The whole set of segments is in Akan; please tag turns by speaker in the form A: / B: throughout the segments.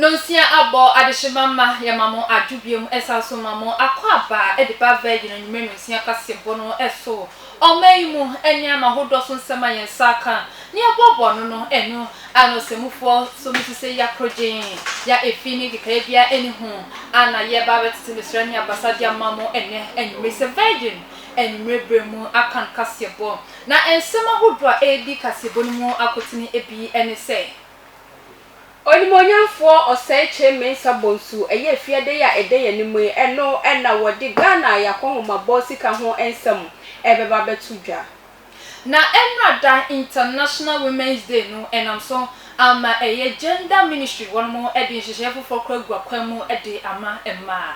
A: Nonsia abɔ adehyema mma yɛma mo adwo biom ɛsan so ma mo akɔ aba de ba bɛɛgye no anwummerɛ nonsia kwasiɛ bɔ no so Ɔman yi mu nnuan ahodoɔ so nsɛm a yɛn nsa aka na yɛboaboa ano no, ɛno ara na ɔsɛmufoɔ nso no su sɛ ya korogyenn, ya efi ne nkekaeɛ biara nni ho, ara na yɛreba abɛtete mesra ne abasa de ama mo ɛnnɛ anwummere sɛ Virgin anwummere berɛ mu akan kaseɛbɔ. Na nsɛm ahodoɔ a ɛredi kaseɛbɔ no mu akotene bi ne sɛ. Onimuonyamfoɔ
B: Osei Kyei Mensah Bonsu ɛyɛ afiadei a ɛda yɛn anim yi, ɛno na wɔde Ghana Ayakɔnhomabɔ sika ho nsɛm ɛrebɛba abɛto dwa. Na
A: ɛmmra da International Women's Day no ɛnam so ama ɛyɛ Gender Ministry wɔnom de nhyehyɛeɛ foforɔ kora agua kwan mu de ama mmaa.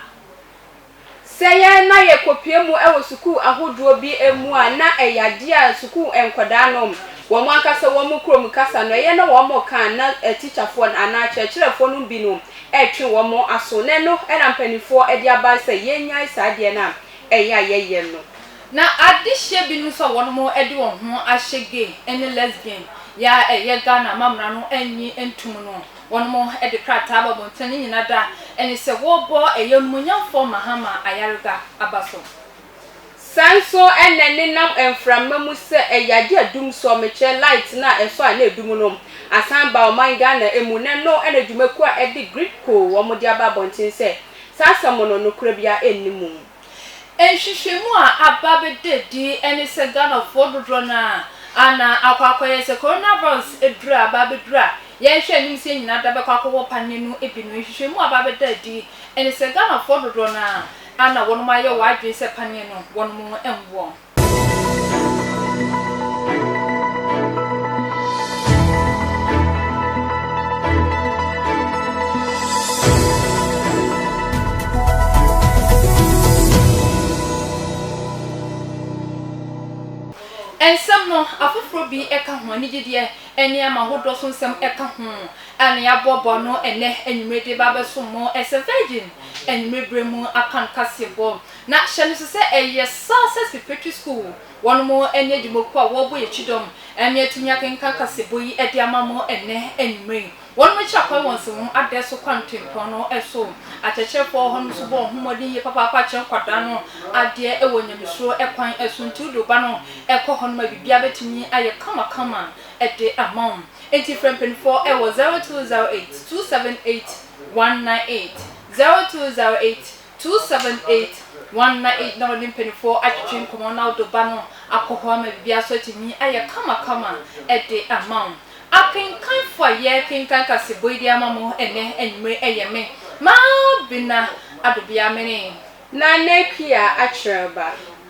B: Sɛ yɛn na yɛkɔpue mu wɔ sukuu ahodoɔ bi mu a, na ɛyɛ adeɛ a sukuu nkwadaa nom, wɔn ankasa wɔn kurom kasa no, ɛyɛ na wɔn ka a na atikyafoɔ no anaa akyerɛkyerɛfoɔ nom bi nom retwe wɔn aso. Na ɛno na mpaninfoɔ de aba sɛ yɛnyae saa adeɛ no a ɛyɛ a yɛyɛ no. Na adehyeɛ
A: bi nom nso a wɔnom de wɔn ho ahyɛ gay ne lesbian yɛ a ɛyɛ Ghana amamera no nnye ntom no. Wɔde krataa aba abɔnten ne nyina da ɛne sɛ wɔbɔ ɛyɛ onumunyamfoɔ Mahama ayarega aba so. Saa
B: nso ɛnɛ ne nam mframa mu sɛ ɛyɛ agye adum sɔ mekyerɛ light no a ɛsɔ a na ɛdum no asan ba ɔman Ghana mu na ɛno na dwumakuo a ɛde Gridco wɔde aba abɔnten sɛ saa asɛm no nokorɛ biara nni mu. Nhwehwɛmu
A: a aba bɛda adi ne sɛ Ghanafoɔ dodoɔ no ara na akɔ akɔyɛ sɛ coronavirus aduro a aba abɛduru a yɛrehwɛ anim sɛ yɛn nyinaa da bɛkɔ akɔwɔ paneɛ no bi no. Nhwehwɛmu a aba abɛda adi ne sɛ Ghanafoɔ dodoɔ no ara na wɔnom ayɛ wɔn adwene sɛ paneɛ no wɔnom nwɔ. Nsɛm no, afoforo bi ka ho, ne gyedie nneɛma ahodoɔ so nsɛm ka ho, a na yɛaboaboa ano ɛnnɛ anwummere de reba abɛsom mo sɛ Virgin anwummere berɛ mu akankaseɛbɔ. Na hyɛ no so sɛ ɛyɛ saa sɛ Sipetri Sukuu wɔn mo ɛne adwumakuo a wɔrebɔ yɛn kyidɔm ɛme atumi akenkan kaseɛbɔ yi ɛde ama mo ɛnɛ anwummerɛ yi. Wɔn mo akyira kwan wɔ nsɛmhom adɛɛ so kwan tempɔn no so. Akyerɛkyerɛfoɔ wɔ hɔ nom nso bɔ wɔn ho mmɔden yie papaapa kyerɛ nkwadaa no adeɛ ɛwɔ nyamesuro kwan so. Nti wode wo ba no kɔ hɔ nom a biribiara bɛtumi ayɛ kama kama ɛde ama wo. Nti frɛ mpaninfoɔ ɛwɔ 0208 278 198, 0208. Two seven eight one na eight na ɔne mpaninfoɔ atwetwe nkɔmɔ na ɔde ɔba no akɔ hɔ ama biribiara so atumi ayɛ kama kama de ama wo. Akenkanfoɔ a yɛ kenkan kaseɛbɔ yi de ama mo ɛnɛ anwummere ɛyɛ me, Mabena Adobea Mene. Na Nɛpia
B: Akyerɛba.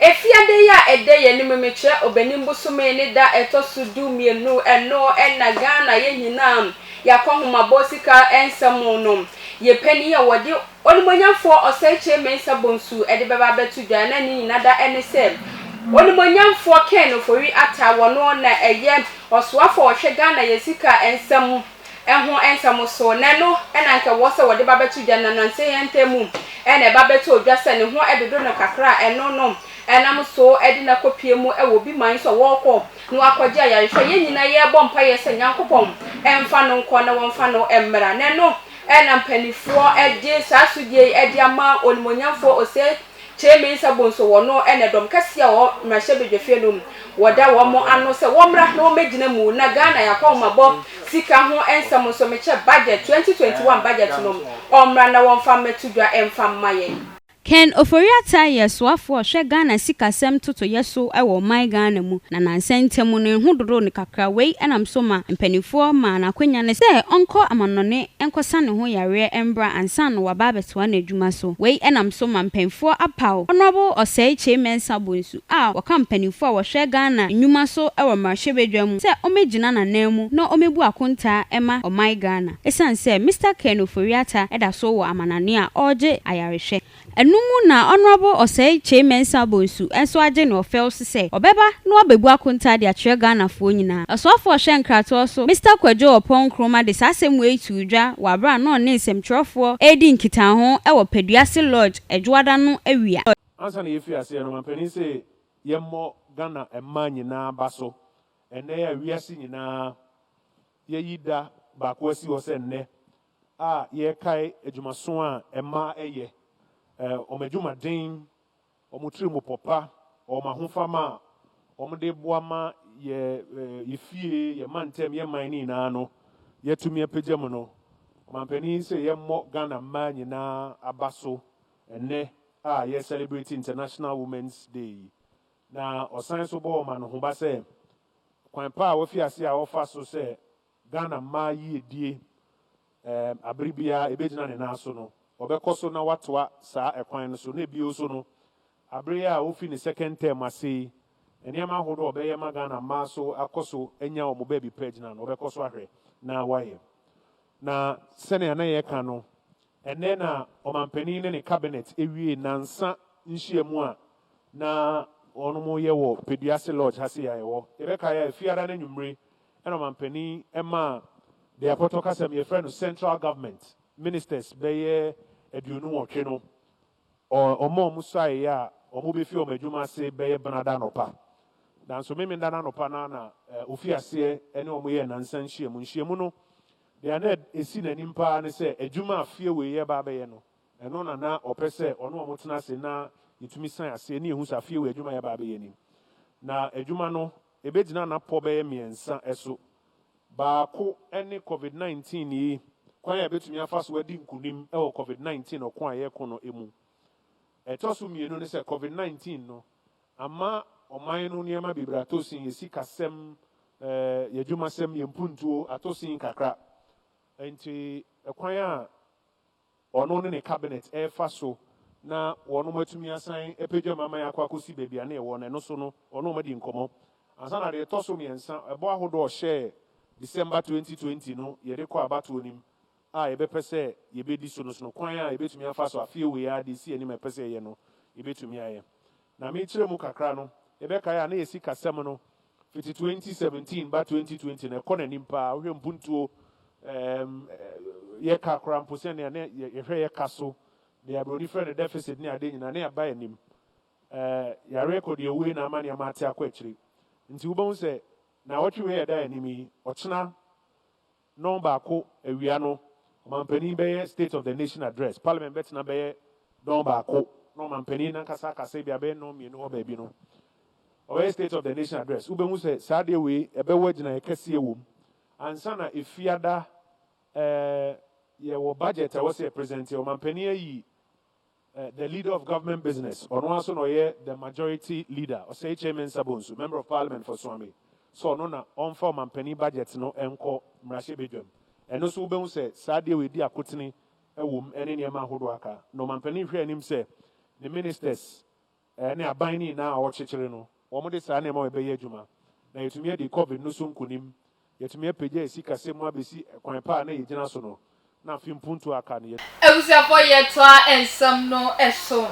B: Afiada yi a ɛda yɛn anim yi mekyerɛ Ɔbɛnim bosome ne da a ɛtɔ so du mmienu, ɛno na Ghana yɛn nyinaa yɛakɔ ahomabɔ sika nsɛm no. Yɛn panin a wɔde. Onimuonyamfoɔ Ɔsɛekyerɛ Mensah Bonsu de bɛba abɛto dwa na ne nyina da ne sɛ Onimuonyamfoɔ Ken Ofori Atta wɔno na ɛyɛ Ɔsoafo a ɔhwɛ Ghana yɛ sika nsɛm ho nsɛm so na ɛno na anka ɛwɔ sɛ wɔde ba bɛto dwa na nansa yi ntɛm mu na ɛba bɛtɔɔ dwa sɛ ne ho dodo no kakra a ɛno no nam so de no akɔpue mu wɔ obi man so a wɔɔkɔ na wakɔgye ayarehwɛ. Yɛn nyina yɛɛbɔ mpaeɛ sɛ Nyankopɔn mfa no nkɔ na wɔmfa no mmra na ɛno na mpaninfoɔ de saa asodie yi de ama Onimuonyamfoɔ Ose Kyere-Mensah Bonso, wɔno na dɔm kɛseɛ a wɔwɔ Mmarahyɛbadwafie no mu, wɔda wɔn ano sɛ wɔmmra na wɔmmɛgyina mu na Ghana yɛn akɔnhomabɔ sika ho nsɛm nso mekyɛ budget 2021 budget no ɔmmra na wɔmfa mmɛto dwa mfa mma yɛn. Ken
C: Ofori-Atta yɛ soafo a ɔhwɛ Ghana sikasɛm totoyɛ so wɔ My Ghana mu, na nansa ntam no ne ho dodoo no kakra. Wei nam so ma mpanimfoɔ maa no akwanya no sɛ ɔnkɔ amanɔne nkɔsa ne ho yareɛ mbra ansa na waba abɛtoa n'adwuma so. Wei nam so ma mpanyimfoɔ apaw Honourable Osei Kyei Mensah Bonsu. a wɔka mpanyimfo a wɔhwɛ Ghana nnwuma so wɔ mmarahyɛbadwa mu sɛ wɔmmegyina n'ananmu na wɔmmebu akontaa mma ɔman Ghana esiane sɛ Mister Ken Ofori-Atta da so wɔ amanane a ɔregye ayarehwɛ no mu na Honourable Osei Kyei Mensah Bonsu nso agye no ɔfɛw so sɛ ɔbɛba na wabebu akontaa de akyerɛ Ghanafoɔ nyinaa. Ɔsoafo a ɔhwɛ nkratoɔ so Mister Kwadwo Oppong Nkrumah de saa asɛm wei too dwa wɔ abere a na ɔne nsɛmtwerɛfoɔ redi nkitaho wɔ Peduase Lodge Adwoada no awia. Ansa na yɛfiri
D: aseɛ no, mampanin se yɛmmɔ Ghana mmaa nyinaa aba so. Ɛnnɛ yi a wiase nyinaa yɛyi da baako asi hɔ sɛ nnɛ a yɛrekae adwumaso a mmaa ɛyɛ, wɔn adwumaden, wɔn tirimupɔ pa, wɔn ahofama a wɔde boa ma yɛ yɛ fie, yɛ mantam, yɛ man no nyinaa no, yɛatumi apagya mu no, mampanin se yɛmmɔ Ghana mmaa nyinaa aba so Ɛnnɛ a yɛ celebrate International Women's Day yi, na ɔsan nso bɔ ɔman no ho ba sɛ, kwan pa a wafi ase a ɔfa so sɛ Ghana mmaa yiedie ɛɛm abere biara ɛbɛgyina ne nan so no, ɔbɛkɔ so na watoa saa ɛkwan no so, na bio nso no, abere yi a ɔfi ne second term ase yi, nneɛma ahodoɔ a ɔbɛyɛ ma Ghana mmaa so akɔ so anya wɔn baabi pa agyina no, ɔbɛkɔ so ahwɛ na wayɛ. Na sɛnea na yɛka no, Ɛnnɛ na ɔmanpanin ne ne cabinet wiee nnansa nhyiamu a na wɔyɛ wɔ Peduase Lodge ha sei a yɛwɔ. Yɛbɛkae a Fiada no anwummere na ɔmanpanin maa deɛ apɔtɔ kasa mu yɛfrɛ no Central Government Ministers bɛyɛ aduonu nwɔtwe no wɔn a wɔsuaeɛ a wɔbɛfiri wɔn adwuma ase bɛyɛ Benada anɔpa. Nanso Memenda no anɔpa no ara na wɔfiri aseɛ ne wɔn yɛɛ nnansa nhyiamu. Nhyiamu no Nea na esi n'anim paa ne sɛ adwuma a fie wei reba abɛyɛ no, ɛno na na ɔpɛ sɛ ɔne wɔn tena ase na yɛtumi san ase ani ehu saa fie wei adwuma a yɛreba abɛyɛ no mu. Na adwuma no, ebegyina nnapɔ bɛyɛ mmiɛnsa so. Baako ne Covid nineteen yi kwan a yɛbɛtumi afa so adi nkunim wɔ Covid nineteen ɔko a yɛreko no mu. Ɛtɔ so mmienu ne sɛ Covid nineteen no, Ama ɔman no nneɛma bebree atɔ sin, yɛn sikasɛm, yɛn adwumasɛm, yɛn mpuntuo atɔ sin kakra. Enti kwan a ɔno ne ne cabinet refa so na wɔnom atumi asan apagya mu ama yɛakɔ akɔsi baabi a na yɛwɔ no, ɛno so no ɔne wɔn adi nkɔmmɔ. Ansa na deɛ ɛtɔ so mmiɛnsa, ɛbɔ ahodoɔ a ɔhyɛɛ December twenty twenty no yɛde kɔ abatoɔ no mu a yɛbɛpɛ sɛ yebedi so no sono kwan a yebetumi afa so afe wei ara de asi yɛn anim a yɛpɛ sɛ yɛyɛ no, yebetumi ayɛ. Na mekyerɛ mu kakra no, yɛbɛkae a na yɛn sikasɛm no fiti twenty seventeen ba twenty twenty no, ɛkɔ n'anim paa. Wohwɛ mpuntuo, ɛɛm, yɛ ka koraa mpo sɛnea na yɛhwɛ yɛ ka so, deɛ aburoni frɛ no deficit ne adeɛ nyinaa, na yɛaba yɛn anim. Ɛɛ, yareɛ kɔ deɛ owue na ama nneɛma ate akɔ akyire. Nti wobɛhu sɛ nnawɔtwe wei a ɛda yɛn anim yi, ɔkyena Nnɔn baako awia no, Ɔmanpanin bɛyɛ State of the Nation Address. Parliament bɛtena bɛyɛ dɔn baako, na Ɔmanpanin no ankasa akasa ebia bɛyɛ nnɔn mmienu hɔ baabi no, ɔbɛyɛ State of the Nation Address. Wobɛhu sɛ saa adeɛ wei, ɛbɛwɔ agyinaeɛ kɛseɛ wɔ mu. Ansa na Efiada, eh, yɛwɔ budget a ɛwɔ sɛ yɛpresɛnte. Ɔmanpanin ayi The leader of government business, ɔno ara nso na ɔyɛ the majority leader, Osekhye Mensah Bonsu, Member of Parliament for Suame, sɛ ɔno na ɔmfa ɔmampanin budget no nkɔ mmarahyɛbadwam. Ɛno nso wobɛhu sɛ saa adeɛ wei de akotene wom ne nneɛma ahodoɔ aka, na ɔmampanin hwɛ anim sɛ ne ministers ne aban no nyinaa a wɔkyekyere no, wɔde saa nneɛma wei bɛyɛ adwuma, na yɛatumi adi Covid no so nkonim. Yɛatumi apagya yɛn sikasɛm mu abɛsi kwan pa a na yɛgyina so no, na afe mpontu a aka no, yɛatumi. Abusuafo yɛtoa
A: nsɛm no so,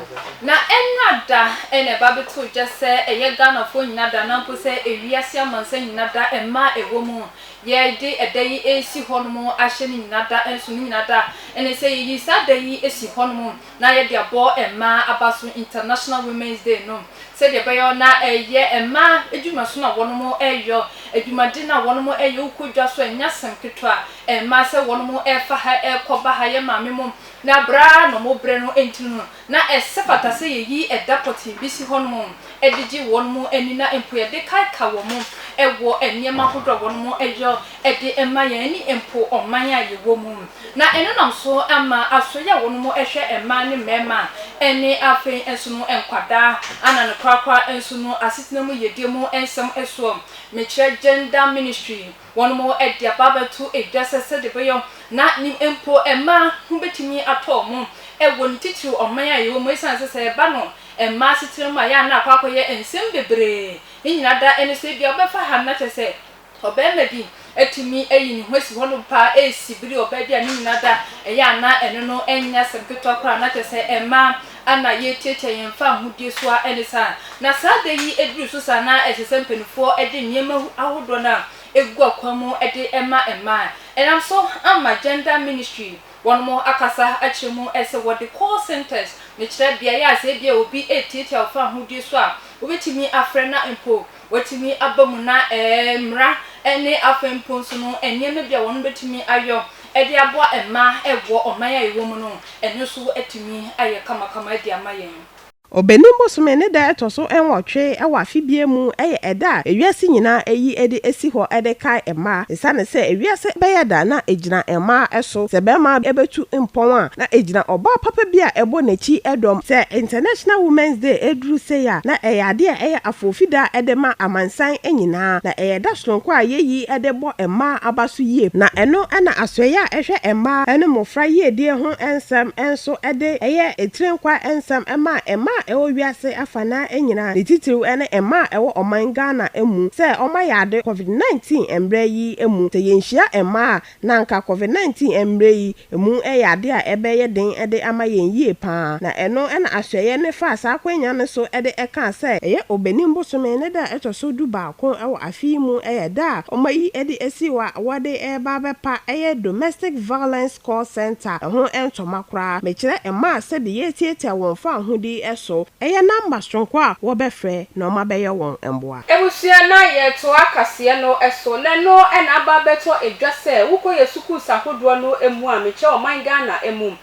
A: na ɛnna da na ɛba abɛtoo gya sɛ ɛyɛ Ghanafoɔ nyina da, na mpo sɛ ewiase amansan nyina da, mma a ɛwɔ mu yɛde ɛda yi resi hɔnom ahyɛ no nyina da nso no nyina da, ɛne sɛ yɛyi saa da yi si hɔnom. na yɛde abɔ mmaa abaso International Women's Day no sɛdeɛ ɛbɛyɔ na ɛyɛ mmaa adwumasono a wɔnom ɛyɔ, adwumade no a wɔnom ɛyɔ, wokɔ dwa so a ɛnyɛ asɛm ketewa mmaa sɛ wɔnom ɛfa ha ɛkɔ ba ha, yɛ maame mom na berɛ a na wɔn brɛ no ntini no na ɛsɛ fata sɛ yɛyi ɛda pɔtee bi si hɔ nom de gye wɔnom ani na mpo yɛde kae ka wɔn ɛwɔ nneɛma ahodoɔ a wɔnom ɛyɔ de ma yɛn ɛne mpo ɔman a yɛwɔ mu. Na ɛno nam so ama asoeɛ a wɔn mu hwɛ mmaa ne mmarima a ɛne afei nso no nkwadaa ana no korakora nso no asetena mu yiedie mu nsɛm soɔ, mekyerɛ Gender Ministry, wɔn mo de aba abɛto dwa sɛ sɛdeɛ ɛbɛyɔ na nim mpo mmaa ho bɛtumi atɔ wɔn wɔ ne titiriw ɔman a yɛwɔ mu ɛsiane sɛ sɛ ɛba no mmaa asetena mu a yɛ a na akɔ akɔyɛ nsɛm bebree ne nyinaa da ɛne sɛ ebia wobɛfa ha no na kyerɛ sɛ Ɔbarima bi atumi ayi ne ho asi hɔ nom paa resi bere a ɔbaa bi a ne nyina da yɛ a na ɛno no nyɛ asɛm ketewa koraa, na kyerɛ sɛ mmaa a na yɛretiatia yɛn mfa ahodie so ara ne saa. Na saa da yi duru so saa na ɛsɛ sɛ mpanimfoɔ de nneɛma ahodoɔ no a ɛgu akwan mu de ma mmaa. Ɛnam so ama Gender Ministry wɔnom akasa akyerɛ mu sɛ wɔde call centres no kyerɛ beaeɛ a sɛ ebia obi retiatia ɔfa ahodie so a, wobɛtumi afrɛ na mpo, wɔatumi aba mu na mmara ne afei mpo nso no nneɛma bi a wɔbɛtumi ayɔ de aboa mmaa wɔ ɔman a yɛwɔ mu no, ɛno nso atumi ayɛ kamakama de ama yɛn. Ɔbɛnem bosome
E: ne da a ɛtɔ so nwɔtwe wɔ afe biara mu yɛ ɛda a wiase nyinaa yi de si hɔ de kae mmaa. Esiane sɛ wiase bɛyɛ da na egyina mmaa so sɛ barima betu mpɔn a, na egyina ɔbaa papa bi a ɛbɔ n'akyi dɔm. Sɛ International Women's Day duru sei a, na ɛyɛ ade a ɛyɛ afoofida de ma amansan nyinaa, na ɛyɛ da soronko a yɛyi de bɔ mmaa aba so yie. Na ɛno na asoɛeɛ a ɛhwɛ mmaa ne mmofra yiedie ho nsɛm nso de yɛ tire nkwa nsɛm ma mmaa a ɛwɔ wiase afa fa na nyina ne titiriw ne mmaa a ɛwɔ ɔman Ghana mu sɛ wɔayɛ ade Covid 19 mmerɛ yi mu. Sɛ yɛnhyia mmaa a, na anka Covid 19 mmerɛ yi mu yɛ ade a ɛbɛyɛ den de ama yɛn yie pa ara. Na ɛno na Asoɛeɛ no faa saa akwanya no so de kaa sɛ, ɛyɛ Obenim bosome ne da a ɛtɔ so du baako wɔ afe yi mu yɛ da a wɔayi de asi hɔ a wɔde reba abɛpa ɛyɛ Domestic Violence call centre, ɛho ntɔma koraa. Mekyerɛ mmaa sɛdeɛ yɛretiatia wɔn fawohodi so, ɛyɛ namba soronko a wɔbɛfrɛ na wɔabɛyɛ wɔn mmoa. Abusua na
B: yɛtoa kaseɛ no so na ɛno na aba abɛtɔ dwa sɛ wokɔ yɛn sukuus ahodoɔ no mu a mekyerɛ ɔman Ghana mu.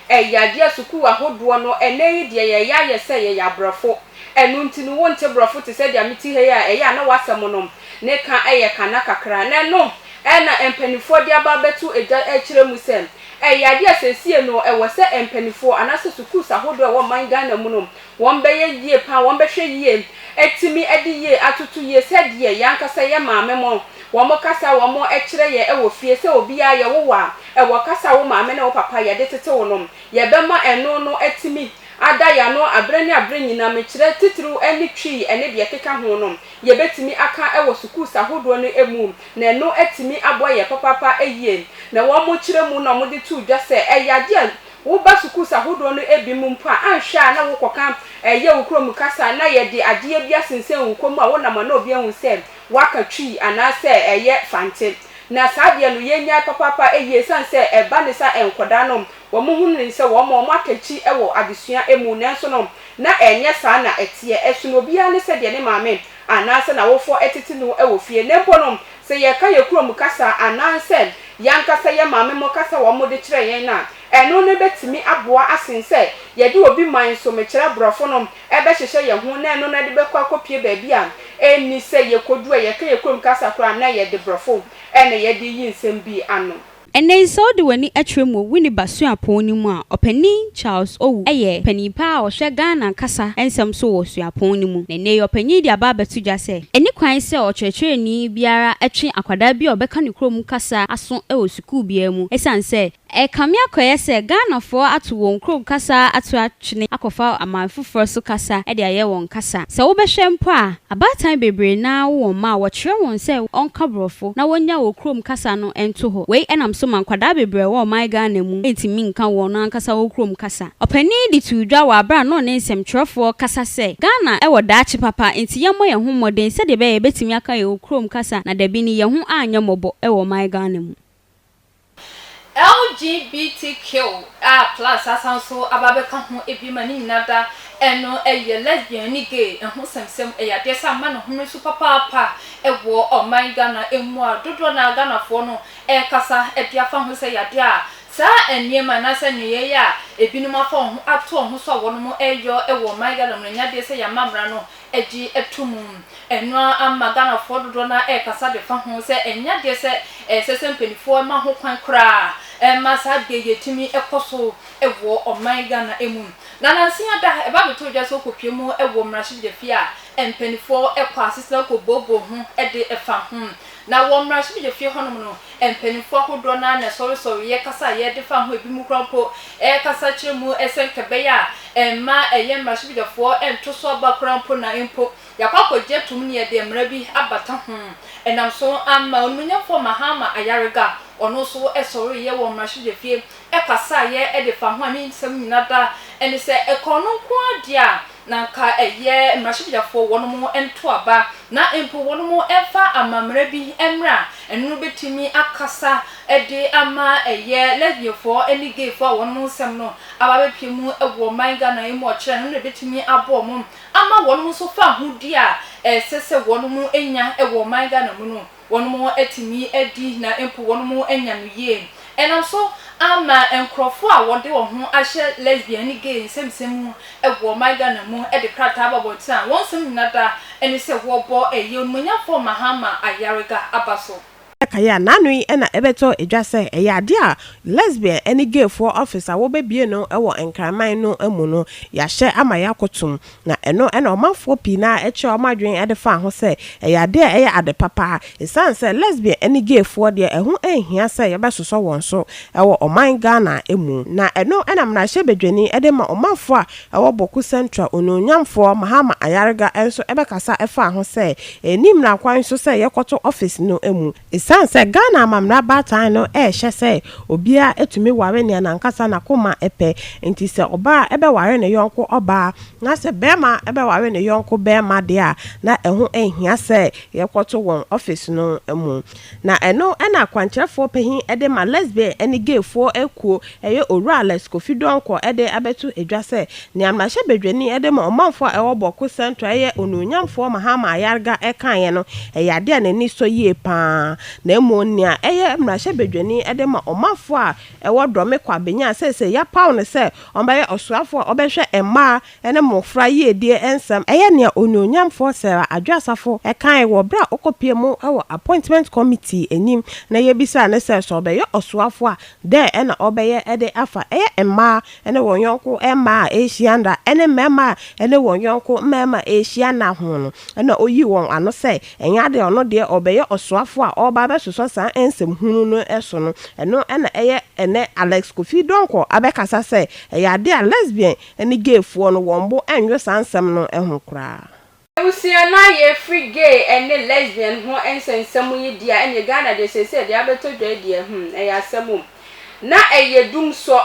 B: Ɛyɛ adeɛ a sukuu ahodoɔ no ɛnnɛ yi deɛ yɛyɛ ayɛ sɛ yɛyɛ abrɔfo ɛno nti no wonte brɔfo te sɛ deɛ mete ha yi a ɛyɛ a na w'asɛm no ne ka yɛ ka na kakra na ɛno na mpanimfoɔ de aba abɛto dwa rekyerɛ mu sɛ ɛyɛ adeɛ a seesei no ɛwɔ sɛ mpanimfoɔ anaasɛ sukuus ahodoɔ a ɛwɔ ɔman Ghana mu no wɔn bɛyɛ yie pa ara, wɔn bɛhwɛ yie atumi de yie atoto yie sɛdeɛ yɛn ankasa yɛn maame mo wɔn kasa a wɔn kyerɛ yɛn wɔ fie sɛ obiara yɛwo wo a ɛwɔ kasa a wo maame ne wo papa yɛde tete wo no yɛbɛma ɛno no atumi ada yɛn ano aberɛ ne aberɛ nyinaa mekyerɛ titiriw ne Twi ne deɛ ɛkeka ho no. yɛbɛtumi aka wɔ sukuus ahodoɔ no mu na ɛno atumi aboa yɛn papaapa yie. Na wɔkyerɛ mu na wɔde too dwa sɛ ɛyɛ adeɛ a woba sukuus ahodoɔ no bi mu mpo a anhwɛ a na wokɔka yɛ wo kurom kasa na yɛde adeɛ bi asensɛn wo kɔn mu a wonam a na obi ahu sɛ woaka Twi anaasɛ ɛyɛ Fante. Na saa adeɛ no yɛnyae papaapa yie ɛsiane sɛ ɛba ne sa nkwadaa no wɔhunu no sɛ wɔn wɔatɔ akyi wɔ adesua mu nanso no Na ɛnyɛ saa na ɛteɛ. Ɛsono obiara ne sɛdeɛ ne maame anaasɛ n'awofoɔ tete no wɔ fie. Na mpo no, sɛ yɛka yɛn kurom kasa anaasɛ yɛn ankasa yɛn maamenom kasa a wɔde kyerɛ yɛn no a, ɛno no bɛtumi aboa asen sɛ yɛde obi man so, mekyerɛ aborɔfo no, bɛhyehyɛ yɛn ho na ɛno no de bɛkɔ akɔpue baabi a ɛnni sɛ yɛkɔdu a yɛka yɛn kurom kasa koraa na ɛyɛ de borɔfo na yɛde reyi nsɛm bi ano. Ɛnnɛ yi, sɛ wode
C: w'ani kyerɛ mu wɔ Winneba Suapɔn no mu a, Ɔpanyin Charles Owu yɛ panyin pa a ɔhwɛ Ghana kasa nsɛm so wɔ suapɔn no mu. Na ɛnnɛ yi, ɔpanyin yi de aba abɛto dwa sɛ, ɛnni kwan sɛ ɔkyerɛkyerɛni biara twe akwadaa bi a ɔbɛka ne kurom kasa aso wɔ sukuu biara mu, esiane sɛ ɛrekame akɔyɛ sɛ Ghanafoɔ ato wɔn kurom kasa ato twene akɔfa aman foforɔ so kasa de ayɛ wɔn kasa. Sɛ wobɛhwɛ mpo a, abaatan bebree no ara wo wɔn mma a wɔkyerɛ wɔn sɛ wɔnka Borɔfo na wɔnnya wɔ kurom kasa no nto hɔ. Wei nam so ma nkwadaa bebree a ɛwɔ ɔman Ghana mu ntumi nka wɔn ankasa wɔ kurom kasa. Ɔpanin yi de too dwa wɔ aberɛ a na ɔne nsɛmtwerɛfoɔ rekasa sɛ, Ghana wɔ daakye papa nti yɛmmɔ yɛn ho mmɔden sɛdeɛ ɛbɛyɛ a yɛbɛtumi aka yɛn kurom kasa na dabi no yɛn ho anyɛ mmɔbɔ wɔ ɔman Ghana mu.
A: LGBTQ a plus asan nso aba abɛka ho bi ma ne nyinaa da ɛno ɛyɛ lesbian ne gay ho sɛmsɛm ɛyɛ adeɛ sɛ ama ne home so papaapa wɔ ɔman Ghana mu a dodoɔ no ara Ghanafoɔ no ɛrekasa de afa ho sɛ ɛyɛ adeɛ a saa nneɛma anaasɛ nneyɛeɛ a ebinom afa wɔn ho ato wɔn ho so a wɔnom ɛreyɔ wɔ ɔman Ghana mu no ɛnyɛ adeɛ sɛ yɛama mmara no agye ato mu. Ɛno ara ama Ghanafoɔ dodoɔ no ara rekasa de fa ho sɛ ɛnyɛ adeɛ sɛ ɛsɛ sɛ mpanimfoɔ ma ho kwan koraa ma saa adeɛ yi atumi kɔ so wɔ ɔman Ghana mu. Na nansa yi ada, ɛba abɛtɔ dwa sɛ wɔkɔpue mu wɔ mmarahyɛbadwafie a mpanimfoɔ kɔ asetena kɔbooboo ho de fa ho. Na wɔ mmarahyɛbadwa fie hɔnom no, mpaninfoɔ ahodoɔ no ara na ɛsɔresɔreeɛ kasa a yɛdefa ho ebinom koraa mpo ɛrekasa kyerɛ mu sɛ nka ɛbɛyɛ a ɛmma ɛyɛ mmarahyɛbadwafoɔ nto so aba koraa mpo na mpo yɛakɔ akɔgye atom ne yɛde mmara bi abata ho ɛnam so ama Onimuonyamfoɔ Mahama Ayariga ɔno nso sɔreeɛ wɔ mmarahyɛbadwa fie ɛkasaeɛ ɛdefa ho a ne nsɛm nyina da ɛne sɛ ɛkɔn no nko ara deɛ a Na anka ɛyɛ mmarahyɛbadwafoɔ wɔnom nto aba na mpo wɔnom mfa amamerɛ bi mmra, ɛno bɛtumi akasa de ama ɛyɛ lesbianfoɔ ne gayfoɔ a wɔnom nsɛm no aba abɛpue mu wɔ ɔman Ghana yi mu ɔkyerɛ no, ɛno na ɛbɛtumi aboa wɔnom ama wɔnom nso fahodie a ɛsɛ sɛ wɔnom nya wɔ ɔman Ghana mu no. Wɔatumi adi na mpo wɔanya no yie. Ɛnam so ara ma nkurɔfoɔ a wɔde wɔn ho ahyɛ lesbian ne gay nsɛmnsɛm mu wɔ ɔman Ghana mu de krataa ba abɔnten a wɔn nsɛm nyina da ne sɛ wɔrebɔ ɛyɛ onimuonyamfoɔ Mahama Ayariga aba so. Kae a n'ano
E: yi na ɛbɛtɔ dwa sɛ ɛyɛ adeɛ a lesbian ne gayfoɔ office a wɔbɛbue no wɔ Nkraman no mu no, yɛahyɛ ama yɛakotom Na ɛno na ɔmanfoɔ pii no ara kyerɛɛ wɔn adwene de faa ho sɛ ɛyɛ adeɛ a ɛyɛ ade pa paa. Ɛsiane sɛ lesbian ne gay foɔ deɛ ɛho nhia sɛ yɛbɛsosɔ wɔn so wɔ ɔman Ghana mu. Na ɛno na mmarahyɛ badwani de ma ɔmanfoɔ a ɛwɔ Bawku Central onuonyamfoɔ Mahama Ayariga nso bɛkasa faa ho sɛ ɛnni mmara kwan so sɛ yɛkɔto office no mu. Esiane sɛ Ghana amammerɛ abaatan no rehyɛ sɛ obiara tumi ware nea n'ankasa n'akoma pɛ nti, sɛ ɔbaa bɛware ne yɔnko ɔbaa na sɛ barima bɛware ne yɔnko barima de a, na ɛho nhia sɛ yɛkɔto wɔn office no mu. Na ɛno na akwankyerɛfoɔ pahin de ma lesbian ne gayfoɔ akuo Ɛyɛ Owura Alex Kofi Donkor de abɛto dwa sɛ nea mmarahyɛbadwani de ma ɔmanfo a ɛwɔ Bawku Central a ɛyɛ Onuonyamfoɔ Mahama Ayarga kaeɛ no yɛ adeɛ a n'ani sɔ yie pa ara na mmom nea ɛyɛ mmarahyɛbadwani de ma ɔmanfo a ɛwɔ Dɔme Kwabenyan a seesei yɛapaw no sɛ ɔmmɛyɛ ɔsoafoɔ a ɔbɛhwɛ mmaa ne mmofra yiedie nsɛm yɛ nea Onuonyamfoɔ Sarah Adwoasafo kae wɔ bere a ɔkɔpuee mu wɔ Appointment Committee anim na yebisaa no sɛ sɛ ɔbɛyɛ ɔsoafo a, dɛn na ɔbɛyɛ de afa ɛyɛ mmaa ne wɔn yɔnko mmaa a ɛrehyia nna ne mmarima a ɛne wɔn yɔnko mmarima rehyia nna ho no. Ɛnna oyii wɔn ano sɛ ɛnyɛ ade a ɔno deɛ ɔbɛyɛ ɔsoafo a ɔreba abɛsosɔ saa nsɛm hunu no so no. Ɛno na ɛyɛ ɛnnɛ Alex Kofi Donkor abɛkasa sɛ ɛyɛ ade a lesbian ne gayfoɔ no wɔn bo nnwo saa nsɛm no ho koraa. Abusua no
B: ayɛ afiri gay ne lesbian ho nsɛnsɛm yi dea ɛneɛ Ghana deɛ seesei deɛ abɛtɔ dwa yi deɛ hmm ɛyɛ asɛm o. Na ɛyɛ dumsɔ.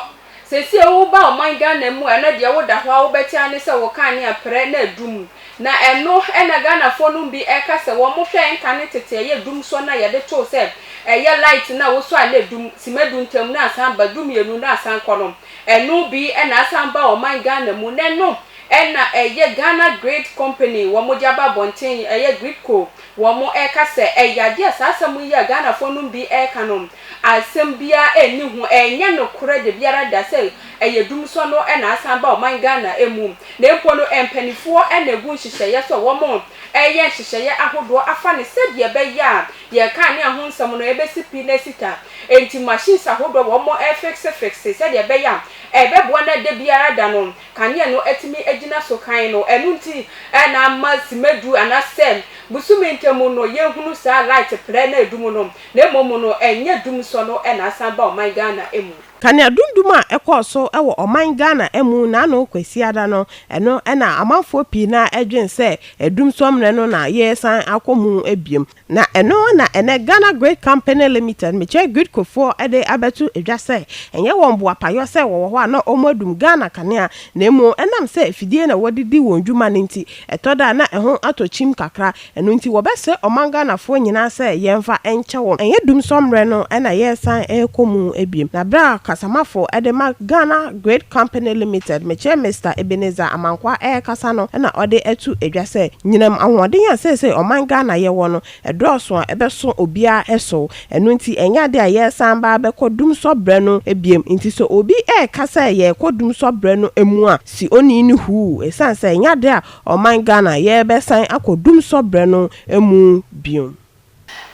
B: Seesei woba ɔman Ghana mu a ɛnɔ deɛ woda hɔ a wobɛte ara ne sɛ wo kanea prɛ na adum. Na ɛno na Ghanafoɔ nom bi ɛka sɛ wɔn hwɛ nka ne tete ɛyɛ dumsɔ no a yɛde too sɛ ɛyɛ light no a wosɔ a na adum, sima du ntam na asan ba, du mmienu na asan kɔ no. Ɛno bi na asan ba ɔman Ghana mu nnɛ no na ɛyɛ Ghana Grid Company wɔn de aba abɔnten ɛyɛ Gridco wɔn ɛreka sɛ ɛyɛ adeɛ a saa asɛm yi a Ghanafoɔ nom bi ɛreka no asɛm biara nni ho ɛnyɛ nokorɛ dabiara da sɛ ɛyɛ dumsɔ no na asan ba ɔman Ghana mu na mpo no mpaninfoɔ na ɛgu nhyehyɛeɛ sɛ wɔn ɛreyɛ nhyehyɛeɛ ahodoɔ afa no sɛdeɛ ɛbɛyɛ a Deɛ ɛkaa ne ɛho nsɛm no ɛbɛsi pi na asi ta. Enti machines ahodoɔ a wɔn refixe fixe sɛdeɛ ɛbɛyɛ a ɛbɛboa na da biara da no kanea no atumi agyina so hann no, ɛno nti na ama sima du anaa sɛ bosome ntamu no yɛhunu saa light prɛ na ɛdum no, na mmom no ɛnyɛ dum sɔ no na asan ba ɔman Ghana mu. Kaneadundum a
E: ɛkɔɔ so wɔ ɔman Ghana mu naano Kwasiada no, ɛno na amanfoɔ pii no ara dwen sɛ Adumsɔmmerɛ no na yɛresan akɔ mu biom. Na ɛno na ɛnɛ Ghana Grid Company Limited, Mekyɛ Gridcofoɔ de abɛto dwa sɛ ɛnyɛ wɔn boapayɔ sɛ wɔwɔ hɔ a na wɔadum Ghana kanea, na mmom ɛnam sɛ afidie na wɔde di wɔn dwuma no nti, ɛtɔ da a na ɛho atɔ kyim kakra. Ɛno nti wɔbɛsrɛ ɔman Ghanafoɔ nyinaa sɛ yɛmfa nkyɛ wɔn. Ɛnyɛ dumsɔ mmerɛ no na yɛresan rekɔ mu biom. Na berɛ a kasamafo de ma Ghana Grid Company Limited, mekyerɛ Mister Ebenezer Amankwah rekasa no na ɔde ato dwa sɛ, nyinam ahoɔden a seesei ɔman Ghana yɛwɔ no, ɛdɔɔso a ɛbɛso obiara so. Ɛno nti ɛnyɛ adeɛ a yɛresan ba abɛkɔ dumsɔ berɛ no biom. Nti sɛ obi reka sɛ yɛrekɔ dumsɔ berɛ no mu a, si onii no huu. Ɛsiane sɛ ɛnyɛ adeɛ a Ɔman Ghana yɛrebɛsan akɔ dumsɔ berɛ no mu bio.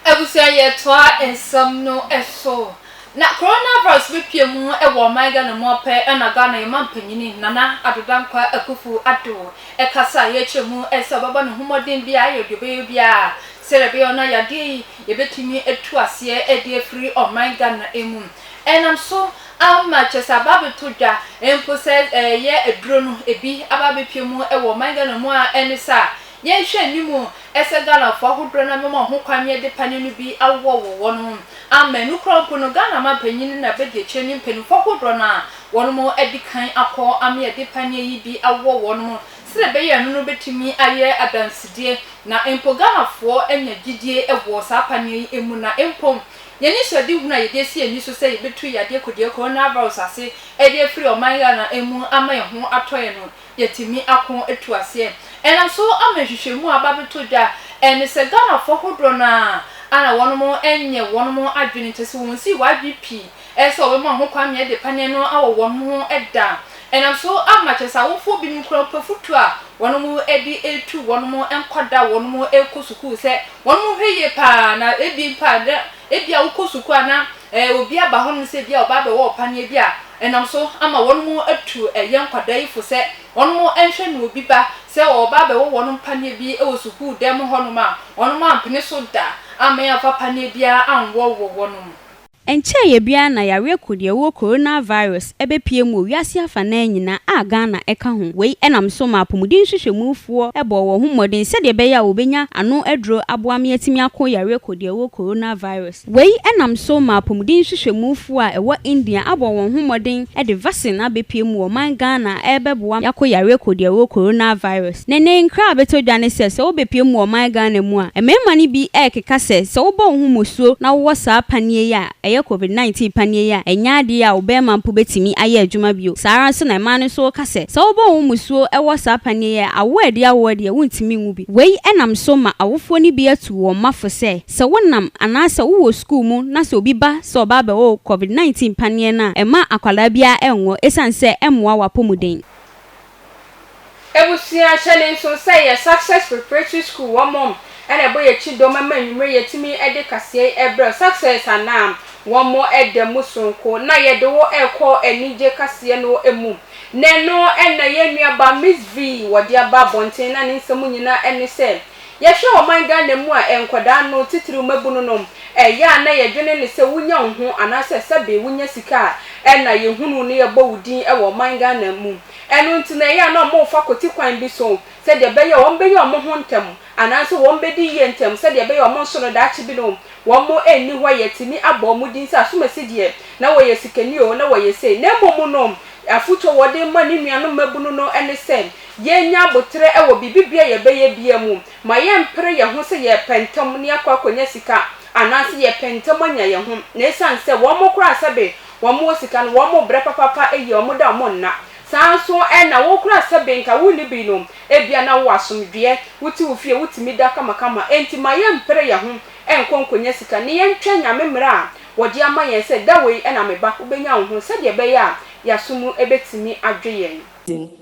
E: Abusua
A: yɛtoa nsɛm no so. Na coronavirus bɛpue mu wɔ ɔman Ghana mu ɔpɛ na Ghana yɛn manpanyini Nana Addo Dankwa Akuffo Addo kasa a yɛkyerɛ mu sɛ ɔbɛbɔ ne ho mmɔden biara ayɛ deɛ ɔbɛyɛ biara sɛdeɛ ɛbɛyɛ ɔno ayadeɛ yi yɛbɛtumi atu aseɛ de afiri ɔman Ghana mu ɛnam so Ama kyerɛ sɛ aba abɛtɔ dwa mpo sɛ ɛyɛ aduro no ebi aba abɛpue mu wɔ ɔman Ghana mu a ɛne sɛ a yɛnhwɛ anim sɛ Ghanafoɔ ahodoɔ no abɛma ho kwan ne ɛde paneɛ no bi awowɔ wɔ wɔn ho ama ɛno koraa mpo no Ghana manpanin na bɛdi akyire ne mpaninfoɔ ahodoɔ no a wɔn mo adi kan akɔ ama yɛde paneɛ yi bi awowɔ wɔn ho sɛdeɛ ɛbɛyɛ a ɛno no bɛtumi ayɛ adansedie na mpo Ghanafoɔ anya gyidie wɔ saa paneɛ yi mu na mpo Yɛn anisoadehunu a yɛde asi yɛn ani so sɛ yebetu yadeɛ kodeɛ coronavirus ase de afiri ɔman Ghana mu ama yɛn ho atɔ yɛn no, yɛatumi ako atu aseɛ. Ɛnam so ama nhwehwɛmu a aba abɛtɔ dwa a ɛne sɛ Ghanafoɔ ahodoɔ no ara a na wɔnom nyɛ wɔnom adwene, kyerɛ sɛ wɔnsii wɔn adwene pii sɛ wɔbɛma wɔn ho kwan ma yɛde paneɛ no awɔ wɔnom ho da, Ɛnam so ara ma kyerɛ sɛ awofoɔ binom kura ɔpɛ fotuo a wɔnom de retu wɔnom nkwadaa a wɔnom rekɔ sukuu sɛ wɔnom nhwɛ yie pa ara na ebia mpo a na ebia wokɔ sukuu a na eh obi aba hɔnom sɛ ebia ɔba abɛwɔ wo paneɛ bi a ɛnam so ama wɔnom atu ɛyɛ nkwadaa yi fo sɛ wɔnom nhwɛ na obi ba sɛ ɔreba abɛwɔ wɔnom paneɛ bi wɔ sukuu dan mu hɔnom a wɔnom ampene so da ammɛn amfa paneɛ biara anwɔ wɔ wɔnom Ɛnkyɛeɛ
C: biara na yareɛ kodeɛwoɔ coronavirus bɛpuee mu wɔ wiase afanaa nyinaa a Ghana ka ho. Wei nam so ma apomuden nhwehwɛmufoɔ bɔɔ wɔn ho mmɔden sɛdeɛ ɛbɛyɛ a wɔbɛnya ano aduro aboa me atumi ako yareɛ kodeɛwoɔ coronavirus. Wei nam so ma apomuden nhwehwɛmufoɔ a ɛwɔ India abɔ wɔn ho mmɔden de vaccine abɛpue mu wɔ ɔman Ghana a ɛrebɛboa me ako yareɛ kodeɛwoɔ coronavirus. Ne ne nkra a abɛtɔ dwa ne sɛ, sɛ wobɛpue mu wɔ ɔman Ghana mu a, mmarima no bi rekeka sɛ, sɛ wobɔ wo ho mmusuo na wowɔ saa paneɛ yi a ɛyɛ Covid 19 paneɛ yi a, ɛnyɛ adeɛ a wo barima mpo bɛtumi ayɛ adwuma bio. Saa ara nso na mmaa no nso reka sɛ, sɛ wobɔ wo ho mmusuo wɔ saa paneɛ yi a, awoɔ a ɛde awo wo deɛ, wontumi nwo bi. Wei nam so ma awofoɔ no bi atu wɔn mma fo sɛ, sɛ wonam anaasɛ wowɔ sukuu mu na sɛ obi ba sɛ ɔba abɛwɔ wo Covid 19 paneɛ no a, mma akwadaa biara nnwɔ, ɛsiane sɛ ɛmmoa w'apɔmuden.
B: Ebusua hyɛ ne nso sɛ yɛ success preparatory school wɔ mom ɛna ɛbɔ yɛ kyi dɔm ɛma anwumere yɛ tumi ɛde kaseɛ ɛbrɛ wo success anaa wɔ mo ɛda mu soronko na yɛ de wo ɛkɔ anigye kaseɛ no ɛmu na ɛno ɛna yɛ nua ba miss vee wɔ de aba abɔnten na ne nsɛm nyina ɛne sɛ Yɛhwɛ ɔman Ghana mu a, nkwadaa no, titiriw mmabunu nom, ɛyɛ a na yɛdwene ne sɛ wonya wo ho anaasɛ sɛbe wonya sika a ɛna yɛhunu wo ne yɛbɔ wo din wɔ ɔman Ghana mu. Ɛno nti na ɛyɛ a na wɔfa kwati kwan bi so sɛdeɛ ɛbɛyɛ a wɔbɛyɛ wɔn ho ntɛm anaasɛ wɔbɛdi yie ntɛm sɛdeɛ ɛbɛyɛ a wɔn nso no daakye bi no wɔn nni hɔ a yɛatumi abɔ wɔn din sɛ asomasi deɛ na wɔyɛ sikani oo na wɔyɛ sei na mmom no afotuo a wɔde ma ne nuanom mmabunu no ne sɛ Yɛnnya aboterɛ wɔ biribi biara a yɛbɛyɛ biara mu. Ma yɛmpere yɛn ho sɛ yɛrepɛ ntɛm na yɛakɔ akɔnya sika anaasɛ yɛrepɛ ntɛm anya yɛn ho. Na ɛsiane sɛ wɔn koraa sɛbe wɔwɔ sika no, wɔbrɛ papaapa yie, wɔda wɔn nna. Saa ara nso na wo koraa sɛbe nka wonni bi no, ebia na wowɔ asomdwoeɛ, wote wo fie, wotumi da kamakama. Enti ma yɛmpere yɛn ho nkɔ nkɔnya sika na yɛntwɛn Nyame mmara a wɔde ama yɛn sɛ, Da wei na meba, wobɛnya wo ho, sɛdeɛ ɛbɛyɛ a yɛn aso mu bɛtumi adwo yɛn.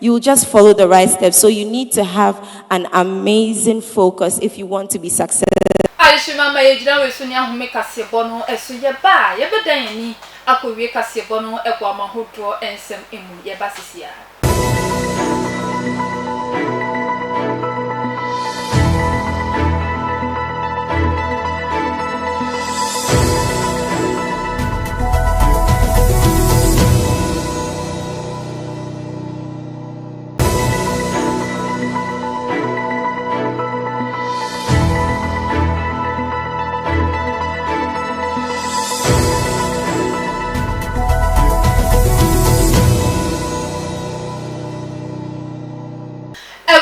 F: You just follow the right steps so you need to have an amazing focus if you want to be successful. Adesima ma
A: yɛgyina wei so ne ahome kaseɛbɔ no so. Yɛba a, yɛbɛdan yɛn ani akɔwie kaseɛbɔ no aguama ahodoɔ nsɛm mu. Yɛba sisi ara.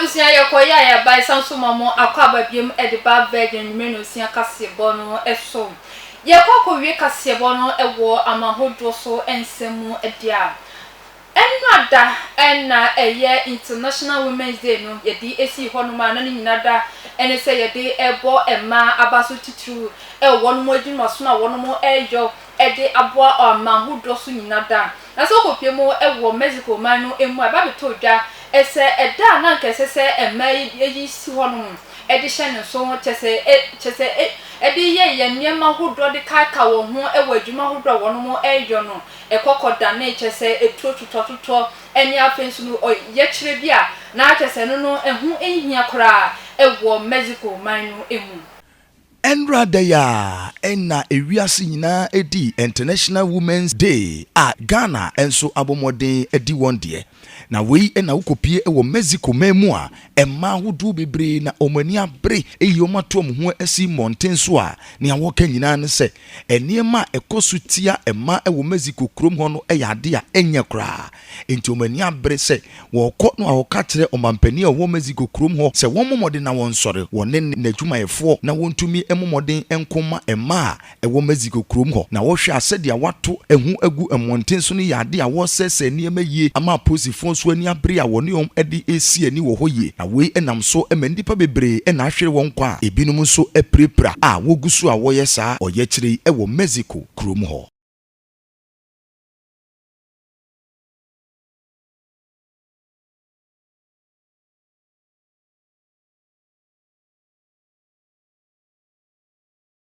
A: abusua yɛkɔ yɛ a yɛba ɛsan so ma mo akɔ aba biom ɛde ba virgin nwumere na osia kaseɛbɔ no ɛso yɛkɔ akɔ wie kaseɛbɔ no ɛwɔ ama hodoɔ so ɛnsɛm mu ɛde a Ɛnnora da na ɛyɛ International Women's Day no yɛde sii hɔ nom a na ne nyina da ne sɛ yɛde bɔ mmaa abaso titiriw wɔ wɔnom adwumasom a wɔnom yɔ de aboa ɔaman ho dɔ so nyina da. Na sɛ wokɔ pie mu wɔ Mexico man no mu a ɛba bɛtɔ dwa sɛ ɛda a na anka ɛsɛ sɛ mmaa yi yi si hɔ nom de hyɛ ne nso kyɛ sɛ kyɛ sɛ de yɛ yɛ nneɛma hodoɔ de kaekae wɔn ho wɔ adwuma hodoɔ a wɔnom yɔ no ɛkɔkɔ danee kyerɛ sɛ ɛturo twotwatwotwɔ ɛne afei nso no ɔyɛkyerɛ bi a na kyerɛ sɛ ɛno no ɛho nhia koraa ɛwɔ Mexico man no mu. Ɛnnora
G: da yi ara na ewiase nyinaa ɛdi International Women's Day a Ghana nso abɔ mmɔden adi wɔn deɛ. Na wei na wokɔpie wɔ Mexico man mu a mmaa ahodoɔ bebree na wɔn ani abere ayi wɔn ato wɔn ho asi mmɔnten so a nea wɔka nyinaa ne sɛ nneɛma a ɛkɔ so tia mmaa wɔ Mexico kurom hɔ no yɛ ade a ɛnyɛ koraa. Enti wɔn ani abere sɛ wɔkɔ no a wɔka kyerɛ ɔmampanin a ɔwɔ Mexico kurom hɔ sɛ wɔmmɔ mmɔden na wɔnsɔre, wɔne n'adwumayɛfoɔ, na wɔntumi mmɔ mmɔden nko mma mmaa a ɛwɔ Mexico kurom hɔ, na wohwɛ a sɛdeɛ wɔato ɛho agu mmɔnten so no yɛ adeɛ a wɔresɛesɛe nneɛma yie ama apolisifoɔ nso ani abere a wɔne wɔn de resi ani wɔ hɔ yie, na wei nam so ma nnipa bebree na ahwere wɔn nkwa a ebinom nso apirapira a wɔgu so a wɔyɛ saa ɔyɛkyerɛ yi wɔ Mexico kurom hɔ.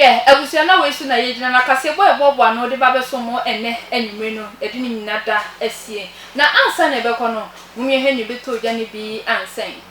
A: yɛ abusua na wei so na yɛgyina na kaseɛbɔ a ɛboaboa no de ba bɛso mo ɛnɛ anwummere no yɛde ne nyina da asie na ansa na ɛbɛkɔ no mom yɛhwɛ ne bɛtɔ ogya no bi ansɛn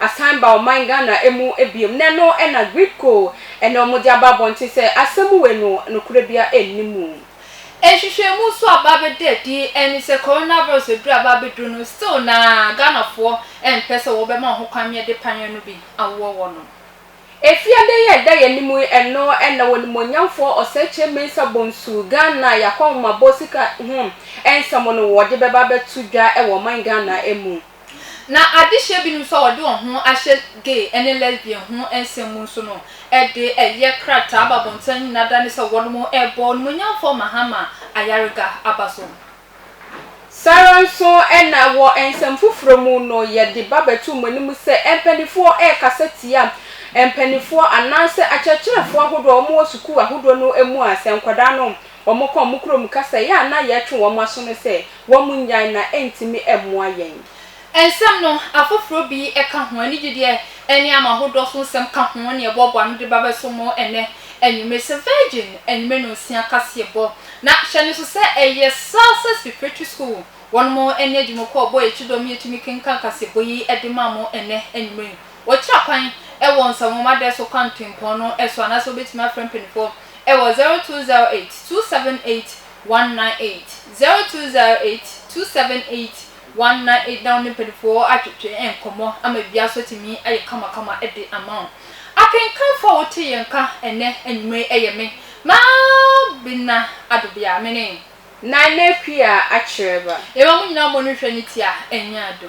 B: asan ba ɔman Ghana mu biom na ɛno na Greepco na wɔde aba abɔnten sɛ asɛm wei no nokorɛ biara nni mu. Nhwehwɛmu
A: nso aba abɛda adi ne sɛ coronavirus aduru a aba abɛduru no still na Ghanafoɔ mpɛ sɛ wɔbɛma wɔn ho kwan ma yɛde panneɛ no bi awowɔ wɔnom. Efiada
B: yi a ɛda yɛn anim yi ɛno na Onimuonyamfoɔ Osekyere Mensah Bonsu, Ghana Y'akɔnhomabɔ sika ho nsɛm no wɔde bɛba abɛto dwa wɔ ɔman Ghana mu. Na adehyeɛ
A: binom nso a wɔde wɔn ho ahyɛ gay ne lesbian ho nsɛm mu nso no de ɛyɛ krataa ba abɔnten anwene ada ne sɛ wɔnom rebɔ onimuonyamfoɔ Mahama ayarega aba so. Saa ara nso
B: na wɔ nsɛm foforɔ mu no yɛde ba bɛto mo anim sɛ mpaninfoɔ rekasa tia mpaninfoɔ anaasɛ akyerɛkyerɛfoɔ ahodoɔ a wɔwɔ sukuu ahodoɔ no mu a sɛ nkwadaa no wɔka wɔn kurom kasa yi a na yɛretwe wɔn aso no sɛ Wɔnnyae na ɛntumi mmoa yɛn. Nsɛm no,
A: afoforɔ bi ka ho, anigyedeɛ ne ama ahodoɔ so nsɛm ka ho na yɛboaboa ano de ba bɛso mo ɛnnɛ anwummere sɛ Virgin anwummere nnɔnsia kaseɛbɔ. Na hyɛ no nso sɛ ɛyɛ Salsus Preparatory School wɔn ne adwumɔkuo bɔ yɛ kyidɔm yɛtumi kenkan kaseɛbɔ yi de ma mo ɛnnɛ anwummere yi. Wɔkyerɛ kwan wɔ nsɛnwoma dɛ so kwantempɔn no so anaasɛ wobɛtumi afrɛ mpaninfoɔ wɔ 0208 278 198 0208 278 198 na wo ne mpanyimfoɔ atwetwe nkɔmmɔ ama dua so atumi ayɛ kamakama de ama wo. Akenkanfo a wote yɛn nka ɛnnɛ anwummerɛ yi yɛ me, Mabena Adobea, me ne. Nana Akua Akyerɛba.
B: Yɛma
A: mo nyinaa mmɔ no nhwɛ ne ti a
B: ɛnyɛ
A: adɔ.